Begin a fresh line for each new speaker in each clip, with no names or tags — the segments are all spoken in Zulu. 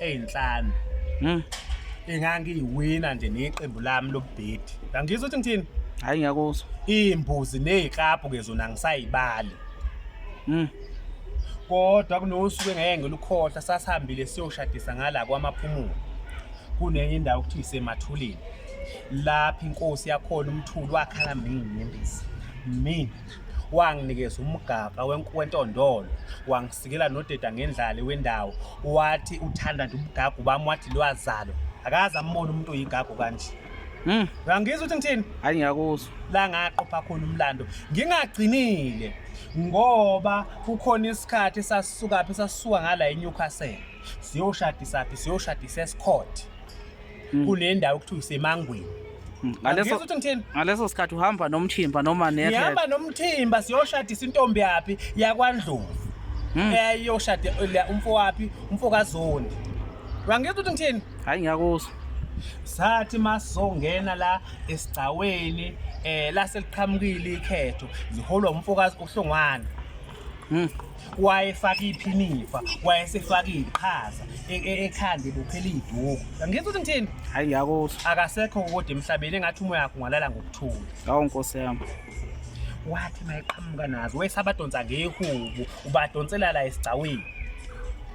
ey'nhlanu Mm. engangiyiwina nje neqembu lami lobubhedi angizwa ukuthi ngithini Hayi ngiyakuzwa.
iy'mbuzi
ney'klabhu-ke zona angisayibali Mm. kodwa kunosuku engeke ngilukhohlwa sasihambile siyoshadisa ngala kwamaphumulo kunenye indawo okuthiwa isemathuleni lapho inkosi yakhona umthuli wakhala mini inyembezi mini wanginikeza umgaga wentondolo wangisikela nodeda ngendlale wendawo wathi uthanda nje umgaga ubami wathi lwazalo akaze ambone umuntu oyigago kanje Mm. Uyangizwa ukuthi ngithini? Hayi ngiyakuzwa. La
ngaqopha
khona umlando. Ngingagcinile ngoba kukhona isikhathi sasisuka phi sasuka ngala eNewcastle. Siyoshadisa phi siyoshadisa eScott. mm. kule ndawo kuthiwa isemangweni mm. ngaleso ukuthi
ngithini ngaleso sikhathi uhamba nomthimba noma ne ngihamba nomthimba
siyoshadisa intombi yaphi yakwandlovu mm. eyayoshade umfo waphi umfo kazondi wangizwa ukuthi ngithini hayi ngiyakuzwa
sathi
masizongena la esigcaweni eh laseliqhamukile ikhetho ziholwa umfokazi uhlongwana Mm. wayefaka iphinifa wayesefaka iy'qhaza e- e- ekhanda ebophela iy'duku angizwa ukuthi ngithini hayi ngiyakuzwa
akasekho kodwa
emhlabeni engathi umoya wakho ungalala ngokuthula awu nkosi yami
wathi
mayeqhamuka nazo wesabadonsa ngehubu ubadonsela la esigcawini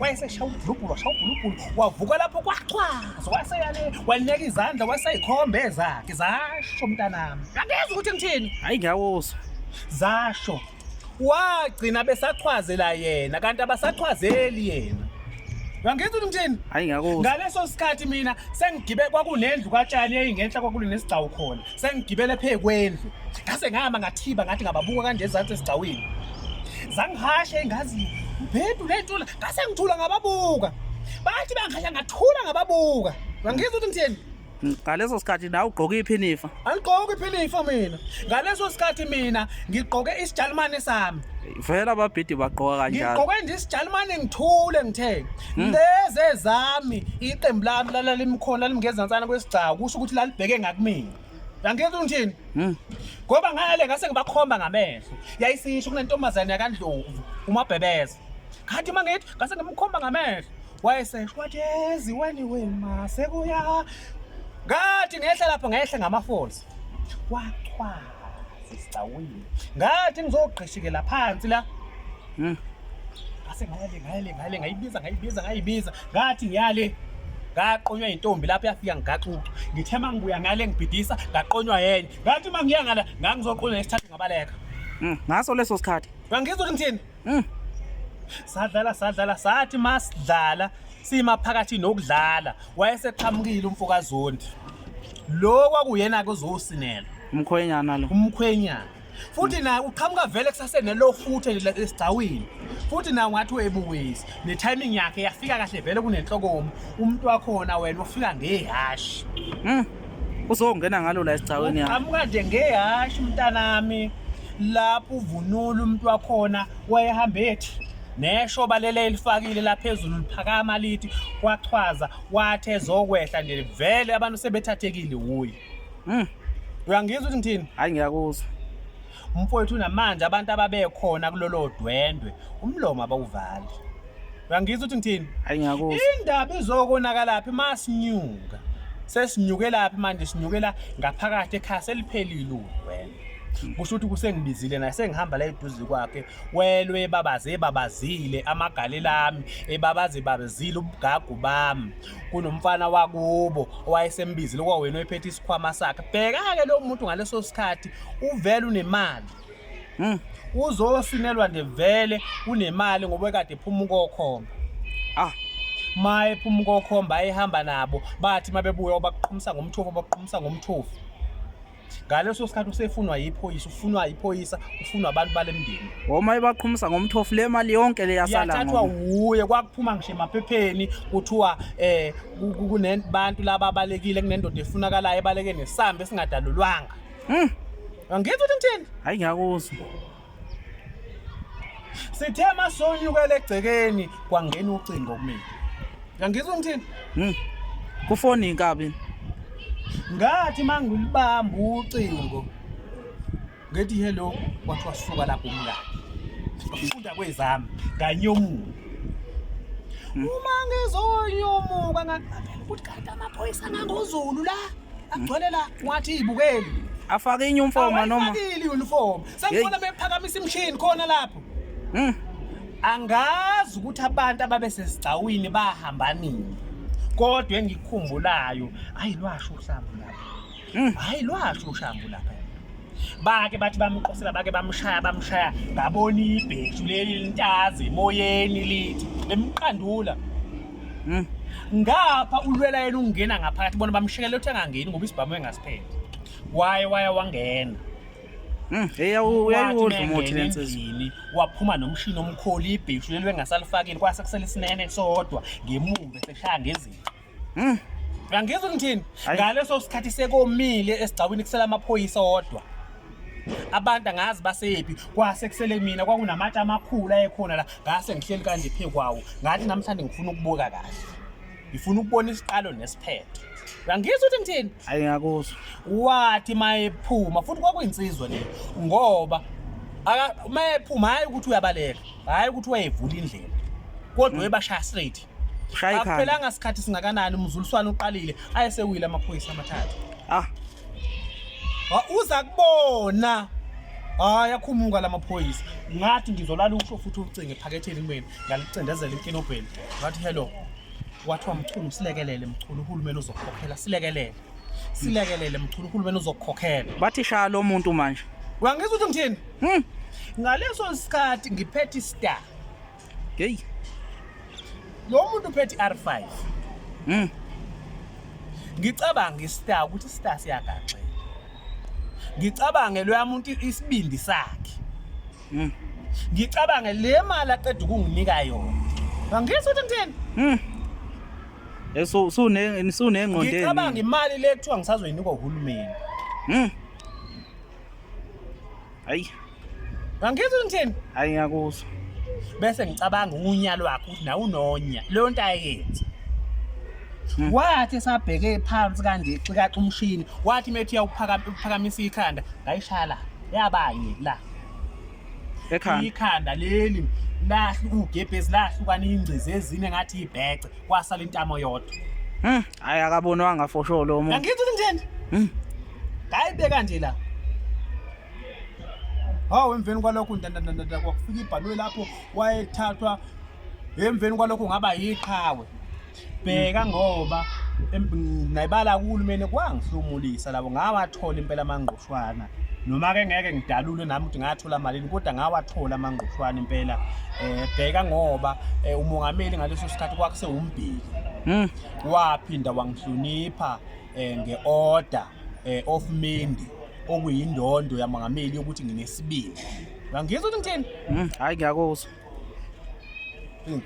wayesesha ubhulubhulu washa ubhulubhulu wavuka lapho kwachwaza waseyale walineka izandla waseyikhomba ezakhe zasho mntanami angezi ukuthi ngithini hayi ngiyawuzwa
zasho
wagcina besachwazela yena kanti abasachwazeli yena Ngangizwa ukuthi ngithini? Hayi ngakuzwa. Ngaleso
sikhathi mina
sengigibe kwakunendlu katshani eyingenhla kwakunesigcawu khona. sengigibele phe kwendlu ngase ngihamba ngathiba ngathi ngababuka kanje ezansi esigcawini zangihashe engazi ubhedu le nto la ngase ngithula ngababuka bathi bangihasha ngathula ngababuka ngangizwa ukuthi ngitheni ngaleso sikhathi
nawe ugqoke iphinifa andigqoki iphinifa
mina ngaleso sikhathi mina ngigqoke isijalimane sami vele ababhidi
bagqoka kanjalo ngigqoke nje isijalimane
ngithule ngithe hmm. lezi ezami iqembu lami lalala imikhona limngezantsana kwesigcawu kusho ukuthi lalibheke ngakumina yangenza ungithini hmm. ngoba ngale ngase ngibakhomba ngamehlo yayisisho kunentombazane yakandlovu umabhebeza kanti uma ngithi ngase ngimkhomba ngamehlo wayesesho wathi yezi wani wema sekuya ngathi ngehla lapho ngehla ngama-falls wachwala sisicawile ngathi ngizogqishikela phansi la hmm. ngase ngayale ngayale ngayale ngayibiza ngayibiza ngayibiza ngathi ngiyale ngaqonywa intombi lapho yafika ngigaxuxa ngithe uma ngibuya ngale ngibhidisa ngaqonywa yenye ngathi uma ngiya ngala ngangizoqonywa ngesithathu ngabaleka hmm. ngaso leso
sikhathi ngangizwa ukuthi ngithini
Mm. Sadlala sadlala sathi masidlala sima phakathi nokudlala wayeseqhamukile umfokazondi. Lo kwakuyena ke uzosinela. Umkhwenyana lo.
Umkhwenyana.
Futhi naye uqhamuka vele kusasene lo futhe esigcawini. Futhi naye ungathi uyebuwezi. Ne timing yakhe yafika kahle vele kunenhlokomo. Umuntu wakhona wena ufika ngehashi. Mm.
uzongena ngalo la esigcawini yakho amuka nje ngehashe
umntanami lapho uvunula umuntu wakhona wayehamba ethi nesho balele elifakile laphezulu liphakama lithi kwachwaza wathi ezokwehla nje vele abantu sebethathekile wuye mm. uyangizwa ukuthi ngithini hayi ngiyakuzwa
Umfowethu
namanje abantu ababekhona kulolo dwendwe umlomo abawuvali. Uyangizwa ukuthi ngithini? Hayi ngiyakuzwa. Indaba
izokonakalaphi
masinyuka. Sesinyukelaphi manje sinyukela ngaphakathi ekhaya seliphelile udwendwe. Kusho ukuthi kusengibizile naye sengihamba la eduze kwakhe welwe babaze babazile amagalelami ebabaze babazile ubugagu bami kunomfana wakubo owayesembizile kwawena oyiphethe isikhwama sakhe bheka-ke lo muntu ngaleso sikhathi uvele unemali hmm. uzosinelwa nje vele unemali ngoba ekade ephuma ukokhomba ah ma ephuma ukokhomba ayehamba nabo bathi uma bebuya bakuqhumisa ngomthofu bakuqhumisa ngomthofu ngaleso sikhathi usefunwa yiphoyisa ufunwa yiphoyisa ufunwa abantu bale mndeni woma ibaqhumisa
ngomthofu le mali yonke le yasala yathathwa wuye
kwakuphuma ngisho emaphepheni kuthiwa eh kunebantu laba abalekile kunendoda efunakalayo ebaleke nesambe esingadalulwanga mm. angithi uthini hayi ngiyakuzwa sithe masonyukela egcekeni kwangena ucingo kumina yangizwa ngithini hmm. kufoni
inkabi
ngathi mangulibamba ucingo ngethi hello kwathiwa suka lapho umngane ngafunda kwezami nganyomuka hmm. uma ngizonyomuka ngaqaphela ukuthi kanti amaphoyisa angangozulu la agcwele la wathi ibukeli afake inyumfomo
noma afakile inyumfomo
Sengibona bephakamisa imshini khona lapho. Hmm. Angazi ukuthi abantu ababesesigcawini bahamba nini. Kodwa engikukhumbulayo, ayi lwasho uhlambu lapha. Hmm. Hayi lwasho uhlambu lapha. bake bathi bamqosela bake bamshaya bamshaya ngabona ibheshu leli lintazi emoyeni lithi limqandula hmm. ngapha ulwela yena ungena ngaphakathi bona bamshekela uthi angangeni ngoba isibhamu engasiphethe waye waye wangena Mm, hey awu
uyayidla umuthi lensizini waphuma nomshini
omkhulu ibhishu leli bengasalifakile kwase kusele sinene sodwa ngemumbe seshaya ngezinto. Mm. Angizwa ngithini? Ngaleso sikhathi sekomile esigcawini kusela amaphoyisa odwa. abantu angazi basephi kwase kusele mina kwakunamatshe amakhulu ayekhona la ngase ngihleli kanje phe kwawo ngathi namhlanje ngifuna ukubuka kahle ngifuna ukubona isiqalo nesiphetho uyangizwa ukuthi ngithini hayi ngakuzwa
wathi
mayephuma futhi kwakuyinsizwa le ngoba aka- mayephuma hhayi ukuthi uyabaleka hhayi ukuthi wayevula indlela kodwa ebashaya straight shaya ikhanda akuphelanga
sikhathi singakanani
umzuliswane uqalile ayesewile amaphoyisa amathathu ah Ha, uza kubona hhayi akhumuka la maphoyisa ngathi ngizolala usho futhi ucinge ephaketheni kumina ngalicindezela inkinobheni ngathi hello wathiwa mchunu silekelele mchunu uhulumeni uzokukhokhela silekelele silekelele mchunu uhulumeni uzokukhokhela bathi shaya lo muntu
manje uyangizwa ukuthi ngithini
hmm. ngaleso sikhathi ngiphethe istar heyi lo muntu uphethe i-r5 hmm. ngicabanga istar ukuthi istar siyagaxela ngicabange loya muntu isibindi sakhe Mm. Ngicabange le mali aqeda ukunginika yona. Angizwa ukuthi ngithini? Mm. Eso
eh, sune sunengqondo. Ngicabanga imali
le kuthiwa ngisazoyinika uhulumeni. Mm.
Hayi. Angizwa
ukuthi ngithini? Hayi ngiyakuzwa.
Bese
ngicabanga unya lwakhe ukuthi nawu nonya. Leyo nto ayenze. Hmm. wathi esabheke phansi kanje xikaxa umshini wathi methi uyawuphakamisa ikhanda ngayishala yabanye la
ekhanda ikhanda leli
lahlu ugebhezi lahlukana ingcizi ezine ngathi ibhece kwasala intamo yodwa hm hayi
akabonwanga for sure lo muntu angithi kunjeni
hm hayi beka nje la hawu emveni kwalokho ndandandanda kwakufika ibhanoyi lapho wayethathwa emveni kwalokho ngaba yiqhawe bheka ngoba nayibala kuhulumeni kwangihlomulisa labo ngawathola impela amangqushwana noma ke ngeke ngidalule nami ukuthi ngathola malini kodwa ngawathola amangqushwana impela eh bheka ngoba eh, umongameli ngaleso sikhathi kwakuse umbhili hmm. waphinda wangihlonipha eh, ngeorder eh, of mindi okuyindondo yamongameli yokuthi nginesibili ngangizwa ukuthi
ngithini
hmm, hayi ngiyakuzwa
hmm.